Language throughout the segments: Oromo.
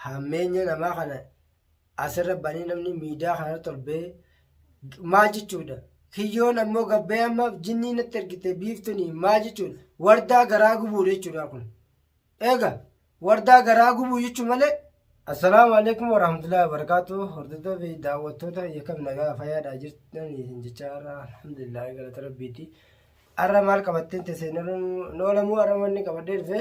hammeenya namaa kana asirra banee namni miidiyaa kana torbee maal jechuudha kiyyoon ammoo gabbee amma jinnii natti ergite biiftuni maal jechuudha wardaa garaa gubuu jechuudha kun eega wardaa garaa gubuu jechuu malee Assalaamu alaikum warahmatullahi wabarakatuh hordoftoota fi daawwattoota yakka nagaa fayyaadhaa jirtan isin jechaa irraa alhamdulillah galata rabbiiti arra maal qabattee teessee noolamuu arra manni qabadhee dhufe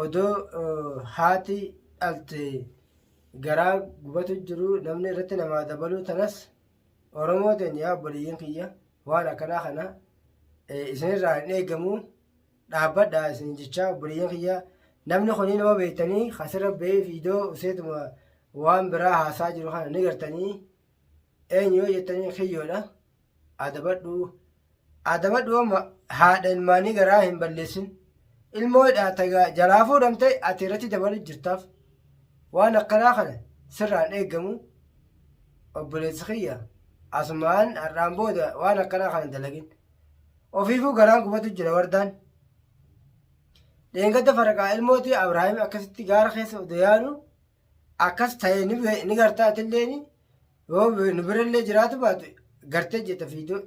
odoo haati dhalte garaa gubatu jiru namni irratti namaa dabaluu tanas oromoo ta'in yaa obboleeyyan kiyya waan akkanaa kana isinirraa hin eegamu dhaabbadha isin jechaa obboleeyyan kiyya namni kunii nama beektanii kasirra ba'ee fiidoo useetuma waan biraa haasaa jiru kana ni gartanii eenyu yoo jettanii kiyyoodha. Adabadhuu Adabadhuu amma haadha ilmaanii garaa hin balleessin. Ilmoo hidhaata gaa jalaa fuudhamte ati irratti dabalu jirtaaf. Waan akkanaa kana sirraan eegamu obboleessi kiyya asumaan har'aan booda waan akkanaa kana dalagin. Ofiifuu garaan gubatu jira wardaan. Dheengadda faraqaa ilmootii Abrahaam akkasitti gaara keessa odoo yaadu akkas ta'e ni be- ni gartaa atilleen yoo be- nu birallee jiraatu baatu gartee jetta fiidoo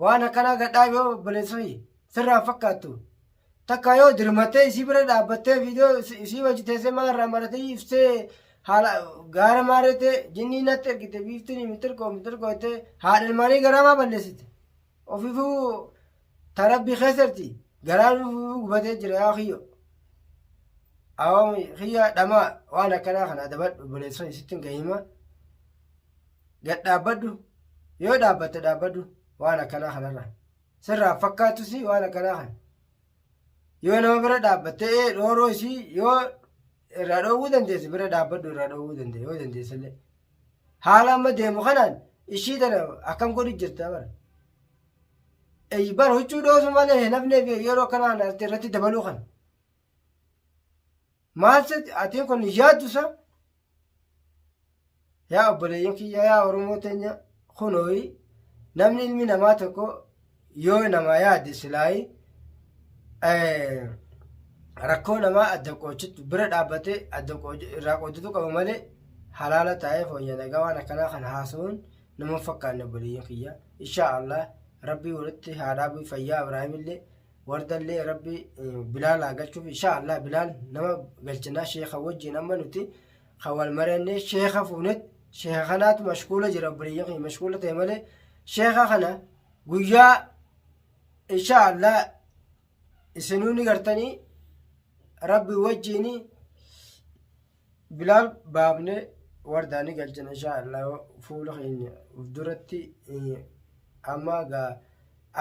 waan akkanaa gadhaa yoo obboleessa fi sirraa hin fakkaattu takka yoo dirmattee isii bira dhaabbattee fiidoo isi- isii wajji teessee maa irraa maratee ibsee haala gaara maareettee jinnii natti ergite biiftiin mitirkoo mitirkoo jettee haadha ilmaanii garaamaa balleessite Ofifuu ta rabbi keessatti garaan ofifuu gubatee jira yaa kiyyo. Awaamu kiyya dhamaa waan akkanaa kana adabadhu buleessan isitti hin gahima. Gad dhaabbadhu yoo dhaabbatte dhaabbadhu waan akkanaa kanarra. Sirraa fakkaatus waan akkanaa kana. Yoo nama bira dhaabbatte ee dhooroo isii yoo irraa dhoowwuu dandeesse bira dhaabbadhu irraa dhoowwuu dandeesse yoo dandeessellee. Haala amma deemu kanaan ishii tana akkam godhu jirta bara. Ey, Bara huccuu dhoosu malee hin hafneef yeroo kanaan ati irratti dabaluu kana. Maal se atiin kun hin yaaddu sa? Yaa obboleeyyan kiyya yaa Oromoo teenya kunooyi namni ilmi namaa tokko yoo namaa yaade silaayi rakkoo namaa adda qoochitu bira dhaabbatee adda irraa qoochitu qaba malee halaala taa'ee fooyya nagaa waan akkanaa kan haasa'uun nama fakkaanne obboleeyyan kiyya inshaa allah rabbii walitti haa dhaabu fayyaa ibraahimillee wardallee rabbii bilaal haa galchuuf inshaa allah bilaal nama galchinaa sheeka wajjiin amma nuti kan wal marannee sheeka fuunet sheeka kanaatu mashkuula jira obboleeyyan kiyya mashkuula ta'e malee sheeka kana guyyaa insha allah isinuu ni gartanii rabbi wajjiini bilaal baafne wardaa ni galchina insha allah fuula keenya uf duratti eh, amma gaa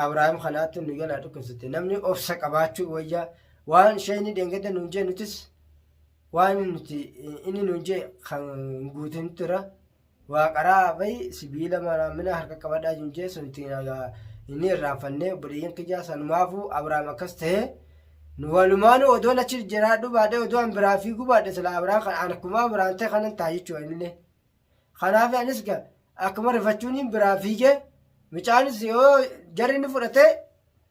abrahaam kanaatti nu jalaa dhukkubsate namni obsa qabaachuu wayyaa waan sheeyni dheengada nuun jee nutis waan nuti eh, inni nuun jee kan guutin tura Waa qaraa bay sibiila maraamina harka qabadhaa junjee sun ittiin inni irraanfannee obboleeyyan kiyyaa sanumaafu Abrahaam akkas ta'ee nu walumaanuu odoon achi jiraadhu baadhee odoo an biraa fiiguu baadhe sila Abrahaam kan an akkuma Abrahaam ta'e kanan ta'a jechuu anillee. Kanaaf anis ga akkuma rifachuun biraa fiigee mucaanis yoo jarri inni fudhatee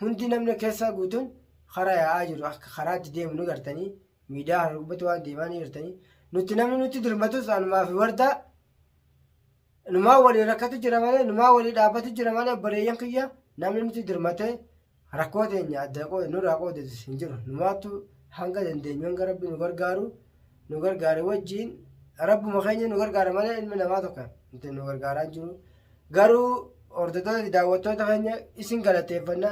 Hundi namni keessaa guutuun karaa yaa'aa jiru akka karaatti deemu ni gartanii miidiyaa kana gubbatti waan deemaa ni gartanii nuti namni nutti dirmatus anumaa fi wardaa numaa walii rakkatu jira malee numaa walii dhaabbatu jira malee bareeyyan kiyya namni nutti dirmatee rakkoo teenya adda qoode nurraa qoodatu hin jiru numaattu hanga dandeenyu hanga rabbi nu gargaaru nu gargaare wajjiin rabbuma keenya nu gargaara malee ilmi namaa tokko nuti nu gargaaraan jiru garuu hordoftoota daawwattoota keenya isin galateeffanna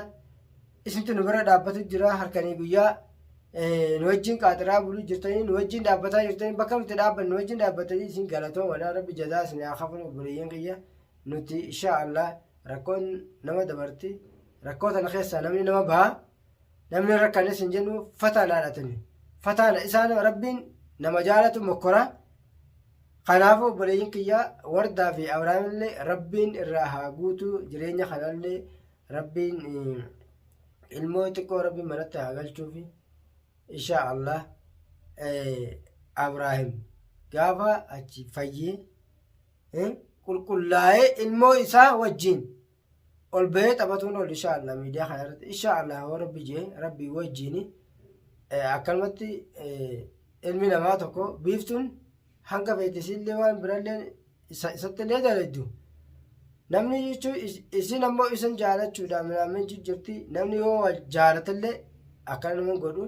isintu nu bira dhaabbatu jira harkanii guyyaa nu wajjiin qaaxiraa buluu jirtanii nu wajjiin dhaabbataa jirtanii bakka nuti dhaabban nu wajjiin dhaabbatanii isin galatoo walaa rabbi jazaa isin haa kafanu obboleeyyan kiyya nuti insha allah rakkoon nama dabarti rakkoo tana keessaa namni nama baha namni rakkanis hin jennu fataanaadha tuni fataana isaan rabbiin nama jaalatu mokkora kanaafuu obboleeyyin kiyyaa wardaa fi abrahaamillee rabbiin irraa haa guutuu jireenya kanallee rabbiin ilmoo xiqqoo rabbiin manatti haa galchuufi insha allah abraahim gaafa achi fayyee qulqullaa'ee ilmoo isaa wajjiin ol bahee taphatuun ol insha Allah miidiyaa kana irratti insha Allah hoo rabbi jee rabbi wajjiin akkanumatti ilmi namaa tokko biiftuun hanga feetisiillee waan birallee isatti illee daladdu namni jechuun isin ammoo isin jaalachuudhaan minaamin jijjirti namni yoo wal jaalatallee akkana nama godhu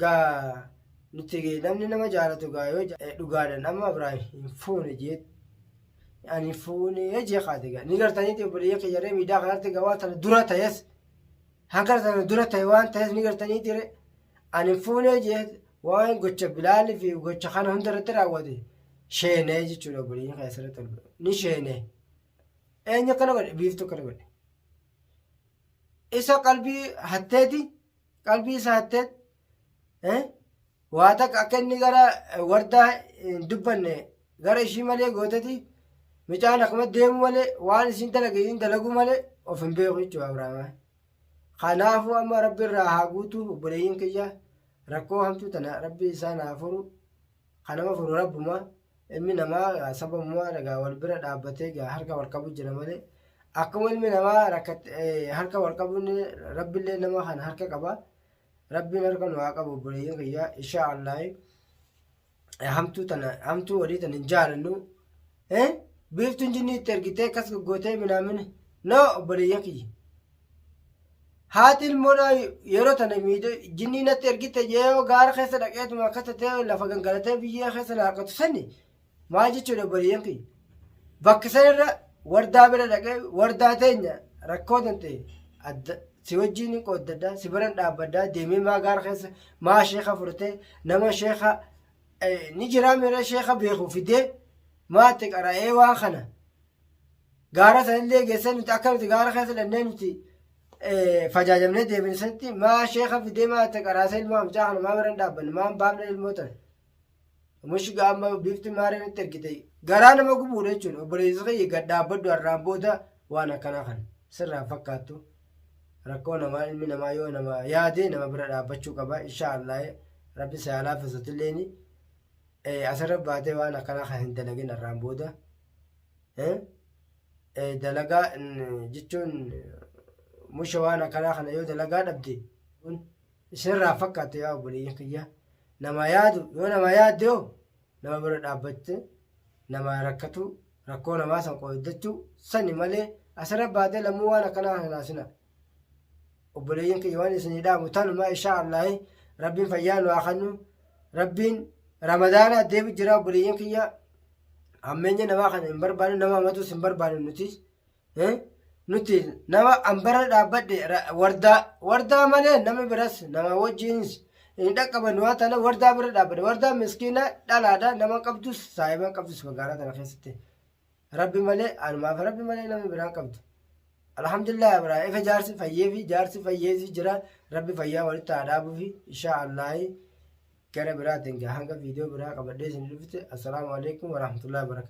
gaa nuti namni nama jaalatu gaa yoo dhugaadhaan amma biraa hin fuune jeetti. yaani fuunee jee kaate gaa ni gartaniiti obboleeyya kiyyaree miidaa kanarratti gaa waan tana dura ta'es hanga tana dura ta'e waan ta'es ni gartaniiti re ani fuunee jee waan gocha bilaalii fi gocha kana hunda irratti raawwate sheenee jechuudha obboleeyya kana asirratti argamu ni sheenee eenyu akkana godhe biiftuu akkana godhe isa qalbii hatteeti qalbii isa hatteet waa takka akka inni gara wardaa hin dubbanne gara ishii malee gooteti mucaan akkuma deemu malee waan isiin dalage isiin dalagu malee of hin beeku jechuudha Abrahaam. Kanaafuu amma rabbi irraa haa guutu obboleeyyiin kiyya rakkoo hamtuu tana rabbi isaan haa furu kanama furu rabbuma ilmi namaa sababumaa dhagaa wal bira dhaabbatee gaa harka wal qabu jira malee akkuma ilmi namaa harka wal qabuun rabbillee nama kana harka qaba. Rabbiin harka nu haa qabu obboleeyyan kiyya inshaa Allaahi hamtuu tana hamtuu walii tana hin jaalannu eh biiftuun jinnii itti ergitee akkas goggootee minaamin no obboleeyyan kiyya haati ilmoodha yeroo tana miidhe jinnii natti ergite yoo gaara keessa dhaqeetuma akka tatee lafa gangalatee biyyee keessa na harkatu sani Maal jechuudha obboleeyyan kiyya? Bakka sanarra wardaa bira dhaqee wardaa teenya rakkoo tante adda si wajjin ni qooddadha si biran dhaabbadha deemee maa gaara keessa maa sheeka furtee nama sheeka eh, ni jiraa miira sheeka beeku fidee maatti qara'ee waan kana gaara sanillee geessee nuti akka nuti gaara keessa dhannee nuti eh, fajaajamnee deebinisatti maa sheeka fidee maatti qaraasee ilmaa mucaa kana maa biran dhaabbanne maa hin baafne ilmoo tana. Mushi gaama bifti maaree nutti ergite garaa nama gubuudha jechuudha obboleessa kiyya gad dhaabbaddu har'aan booda waan akkanaa kan sirraa fakkaattu rakkoo namaa ilmi namaa yoo nama yaade nama bira dhaabbachuu qaba inshaa Allah rabbi si haa laaffisutilleeni asirra baatee waan akkanaa kan hin dalagin har'aan booda dalagaa jechuun musha waan akkanaa kana yoo dalagaa dhabde Isinirraa fakkaattu yaa obboleeyyan kiyya namaa yaadu yoo namaa yaadde hoo nama bira dhaabbatte namaa rakkatu rakkoo namaa san qooddachuu sani malee asirra baatee lammuu waan akkanaa hinaasina. Obboleeyyan kiyya waan isinii dhaamu tanumaa ishaa Allaahi rabbiin fayyaa nu haa kennu rabbiin ramadaana deebi jira obboleeyyan kiyya hammeenya namaa kana hin barbaannu nama hamatus hin barbaannu nutis Eh, Nuti nama ambara dhaabbadhe ra- wardaa wardaa malee nama biras nama wajjinis hin dhaqqabannu waan ta'eef wardaa bira dhaabbadhe. Wardaa miskiina dhalaadha nama qabdus saahiba qabdus magaalaa tana keessatti. Rabbi malee anumaaf rabbi malee nama biraa qabdu. Alhamdulillah biraa ifa jaarsi fayyee fi jaarsi fayyeesi jira rabbi fayyaa walitti haa dhaabuu fi inshaa Allaahi gara biraatiin gaa hanga viidiyoo biraa qabadhee isin dhufte assalaamu alaikum warahmatullahi wabarakatuh.